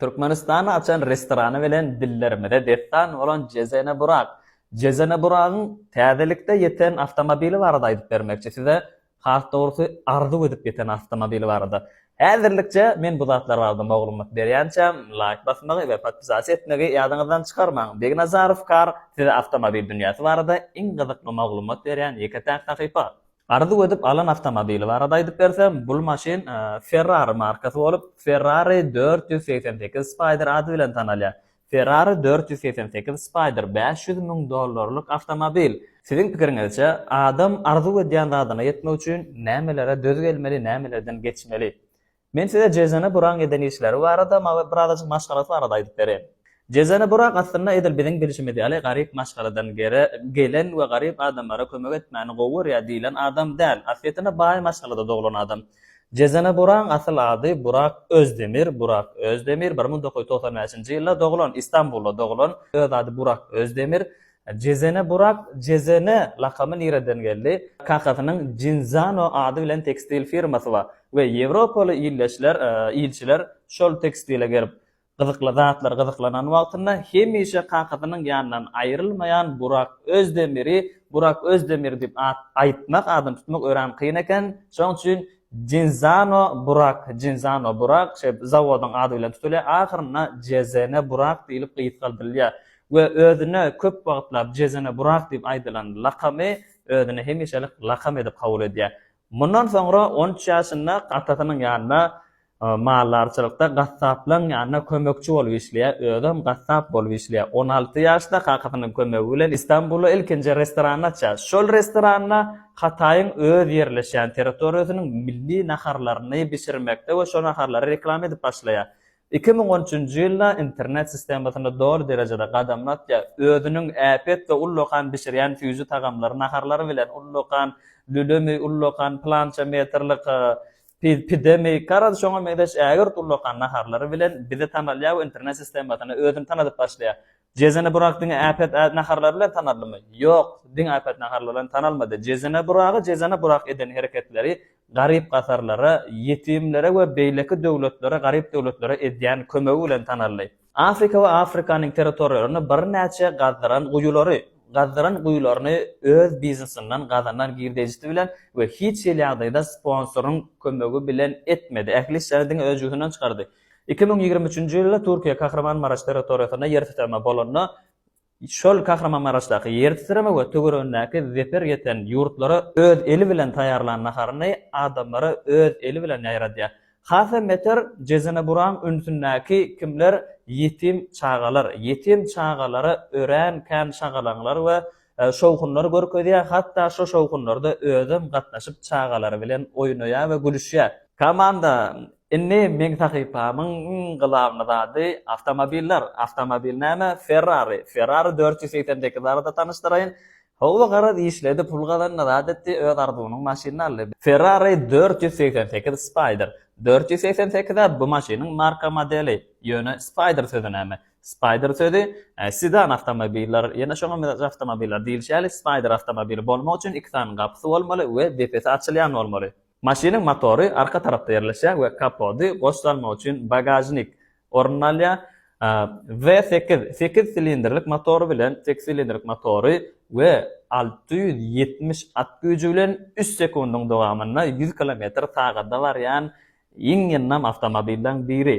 Türkmenistany açan restorany bilen dillerimize dessan bolan Jezene Burak, Jezene Buragyň täzelikde ýeten awtomobili barada aýdyp bermekçi size, has dogrusy arzuw edip ýeten awtomobili barada. Häzirlikçe men bu zatlar barada moglumat berýänçäm, laýk basmagy we podpisasiýa etmegi ýadyňyzdan çykarmaň. Begnazarov Car size awtomobil dünýäsi barada iň gyzykly moglumat berýän ýeke-täk sahypa. Arzuw edip alan awtomobili barada aýdyp bersem, bul maşyn Ferrari markasy bolup, Ferrari dört ýüz segsen sekiz Spider ady bilen tanalýar. Ferrari dört ýüz segsen sekiz Spider bäş ýüz müň dollarlyk awtomobil. Siziň pikiriňizçe, adam arzuw edýän zadyna ýetmek üçin nämelere döz gelmeli, nämelerden geçmeli? Men size Jezene Buraň eden işleri barada mawy birazajyk maşgalasy barada aýdyp bereýin. Jezene Burak aslynda edil biziň bilişimiz ýaly garyp maşgaladan gere gelen we garyp adamlara kömek etmäni gowy görýär diýlen adam däl, aslyýetinde baý maşgalada doglan adam. Jezene Buraň asyl ady Burak Özdemir, Burak Özdemir, bir müň dokuz ýüz togsan bäşinji ýylda doglan, Istanbulda doglan, öz ady Burak Özdemir, Jezene Burak Jezene lakamy nireden geldi? Kakasynyň Jinzano ady bilen tekstil firmasy bar we ýewropaly ildeşler, ilçiler şol tekstile gelip, gyzykly zatlar gyzyklanan wagtynda hemişe kakasynyň ýanyndan aýrylmaýan Burak Özdemiri Burak Özdemir diýip at aýtmak, adyny tutmak örän kyn eken. Şonuň üçin Jinzano Burak, Jinzano Burak, şeýdip, zawodyň ady bilen tutulýar, ahyrynda Jezene Burak diýlip gysgaldyrylýar. we özüne köp wagtlap Jezene Burak diýip aýdylan lakamy özüne hemişelik lakam edip kabul edýär. Mundan soňra on üç ýaşynda atasynyň ýanynda maldarçylykda gassaplaryň ýanynda kömekçi bolup işleýär, özem gassap bolup işleýär. On alty ýaşda kakasynyň kömegi bilen Istanbulda ilkinji restoranyny açýar. Şol restoranda Hataýyň öz ýerleşýän territoriýasynyň milli naharlaryny bişirmekde we şo naharlary reklama edip başlaýar. Iki müň on üçünji ýylda internet sistemasynda doly derejede gadamyny atýar, özüniň äpet we ullakan bişirýän süýji tagamlary, naharlary bilen, ullakan lülemi, ullakan plança metrlik pidemi, garaz şoňa meňzeş ägirt ullakan naharlary bilen bize tanalýar we internet sistemasyna özüni tanadyp başlaýar. Jezene Burak diňe äpet naharlary bilen tanaldymy? Ýok, diňe äpet naharlary bilen tanalmady. Jezene Buragy Jezene Burak eden hereketleri garyp-gasarlara, ýetimlere we beýleki döwletlere, garyp döwletlere edýän kömegi bilen tanaldy. Afrika we Afrikanyň territoriýalaryna birnäçe gazdyran guýulary, gazdyran guýularyny öz biznesinden gazanan girdejisi bilen we hiç hili ýagdaýda sponsoryň kömegi bilen etmedi. Ähli işleri diňe öz jübünden çykardy. Iki müň ýigrimi üçünji ýylda Türkiýe Kahramanmaraş territoriýasynda ýer titreme bolanda, şol Kahramanmaraşdaky ýer titreme we töweregindäki zeper ýeten ýurtlara öz eli bilen taýýarlan naharyny adamlara öz eli bilen ýaýradýar. Has hem beter, Jezeneburaň ünsündäki kimler ýetim çagalar, ýetim çagalara örän kän şagalaňlar we Şowhunlary görkezýär, hatda şo şowhunlarda özem gatnaşyp çagalary bilen oýnaýar we gülüşýär. Komanda Indi meň sahypamyň iň glawny zady awtomobiller, awtomobil näme Ferrari, Ferrari dört ýüz segsen sekiz barada tanyşdyraýyn. Howwa garaz işledi, pul gazandy, zat etdi, öz arzuwynyň maşynyny aldy. Ferrari dört ýüz segsen sekiz Spider. Dört ýüz segsen sekiz-ä bu maşynyň marka modeli, ýöne Spider sözi näme? Spider sözi, sedan awtomobildir. Ýene şoňa meňzeş awtomobildir. Diýlişi ýaly, Spider awtomobili bolmak üçin iki sany gapysy bolmaly we depesi açylýan bolmaly. Maşynyň motory arka tarapda ýerleşýär we kapody goş salmak üçin bagažnik ornuny alýar. W sekiz, sekiz silindrlik motory bilen, sekiz silindrlik motory we alty ýüz ýetmiş at güýji bilen üç sekundyň dowamynda ýüz kilometr sagada barýan iň ýyndam awtomobilleriň biri.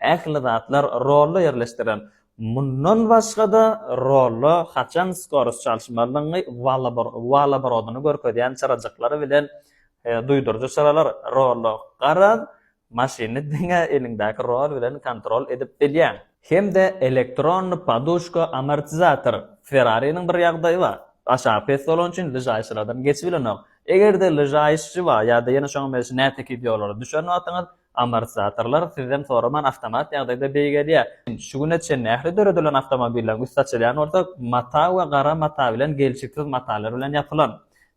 Ähli zatlar rolla ýerleşdirilen. Mundan başga-da, rolla haçan skorost çalyşmalydygyňy, walobrody-ny görkezýän çyrajyklar bilen duýduryjy çyralar, rolla garaz, maşyny diňe eliňdäki rol bilen kontrol edip bilýäň. Hem-de elektronny poduşka-amortizator. Ferrari-niň bir ýagdaýy bar. Aşagy pes bolany üçin lyžaýşylardan geçibilenok. Eger-de lyžaýşçy bar ýa-da ýene şoňa meňzeş nätekiz ýollara düşen wagtyňyz, Amortizatorlar sizden soraman awtomat ýagdaýda beýgelýär. Şu güne çenli ähli döredilen awtomobilleriň üsti açylýan bolsa, mata we gara mata bilen gelşiksiz matalar bilen ýapylan.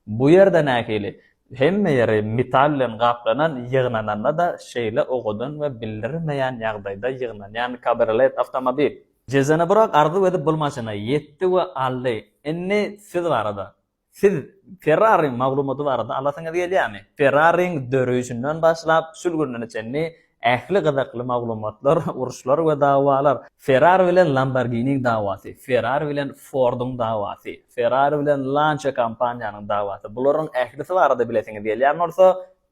Bu ýerde nähili? Hemme ýeri metal bilen gaplanan, ýygnananda-da şeýle owadan we bildirmeýän ýagdaýda ýygnanýan kabriolet awtomobil. Jezanybrak arzuw edip bul maşyny ýetdi we aldy. Indi siz barada. Siz Ferrariň maglumaty barada alasyňyz gelýärmi? Ferrariň döreýşinden başlap, şul gününe çenli ähli gyzykly maglumatlar, uruşlar we dawalar, Ferrari bilen Lamborghiniň dawasy, Ferrari bilen Forduň dawasy, Ferrari bilen Lancia kompaniýanyň dawasy, bularyň ählisi barada bilesiňiz gelýän bolsa,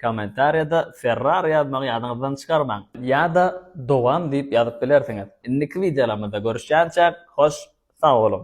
kommentariýada Ferrari ýazmagy ýadyňyzdan çykarmaň. Ýa-da Dowam diýip ýazyp bilersiňiz. Indiki wideolarymyzda görüşýänçäk, hoş sag boluň!